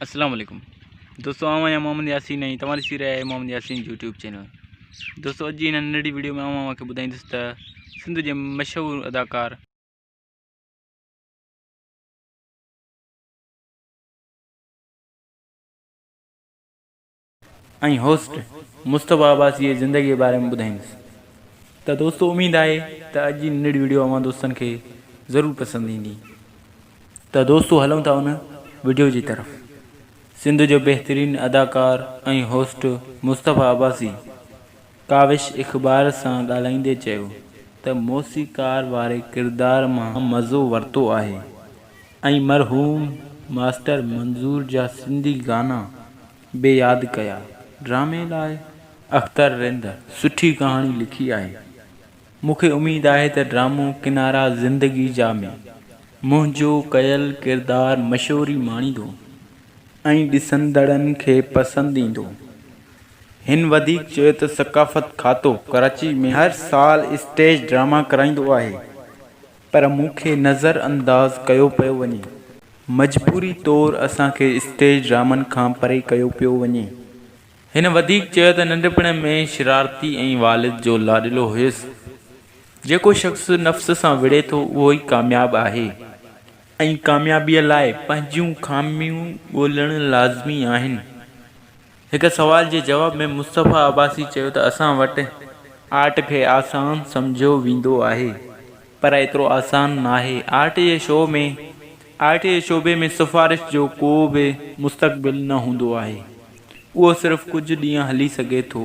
اسلام عليڪم دوستو آئون آهيان محمد ياسين ۽ توهان ڏسي رهيا آهيو محمد ياسين يوٽيوب چينل دوستو اڄ جي هن ننڍڙي ويڊيو ۾ آئون اوهان کي ٻڌائيندس ته سنڌ جي مشهور اداڪار ۽ هوسٽ مصطفيٰ عباسي جي زندگيء باري ۾ ٻڌائيندس ته دوستو اميد آهي ته اڄ جي ننڍڙي وڊيو اوهان دوستن کي ضرور پسند ايندي ته دوستو هلون ٿا ان وڊيو جي طرف سنڌ جو بهترين اداڪار ۽ هوسٽ مصطفيٰ عباسي ڪاوش اخبار سان ڳالهائيندي چيو ته موسيقار واري ڪردار مان مزو ورتو آهي ۽ مرحوم ماسٽر منظور جا سنڌي گانا به ياد ڪيا. ڊرامي لاء اختر رند سٺي ڪهاڻي لکي آهي. مون کي اميد آهي ته ڊرامو ڪنارا زندگي جا ۾ منهنجو ڪيل ڪردار مشهوري ماڻيندو ۽ ڏسندڙن کي پسند ايندو. هن وڌيڪ چيو ته ثقافت کاتو ڪراچي ۾ هر سال اسٽيج ڊراما ڪرائيندو آهي پر مون کي نظر انداز ڪيو پيو وڃي. مجبوري طور اسان کي اسٽيج ڊرامن کان پري ڪيو پيو وڃي. هن وڌيڪ چيو ته ننڍپڻ ۾ شرارتي ۽ والد جو لاڏلو هيس. جيڪو شخص نفس سان وڙهي ٿو اهو ئي ڪامياب آهي ۽ ڪاميابي لاء پنهنجيون خاميون ڳولڻ لازمي آهن. هڪ سوال جي جواب ۾ مصطفيٰ عباسي چيو ته اسان وٽ آرٽ کي آسان سمجهيو ويندو آهي پر ايترو آسان ناهي، آرٽ جي شو ۾ آرٽ جي شعبي ۾ سفارش جو ڪو به مستقبل نه هوندو آهي، اهو صرف ڪجهه ڏينهن هلي سگهي ٿو.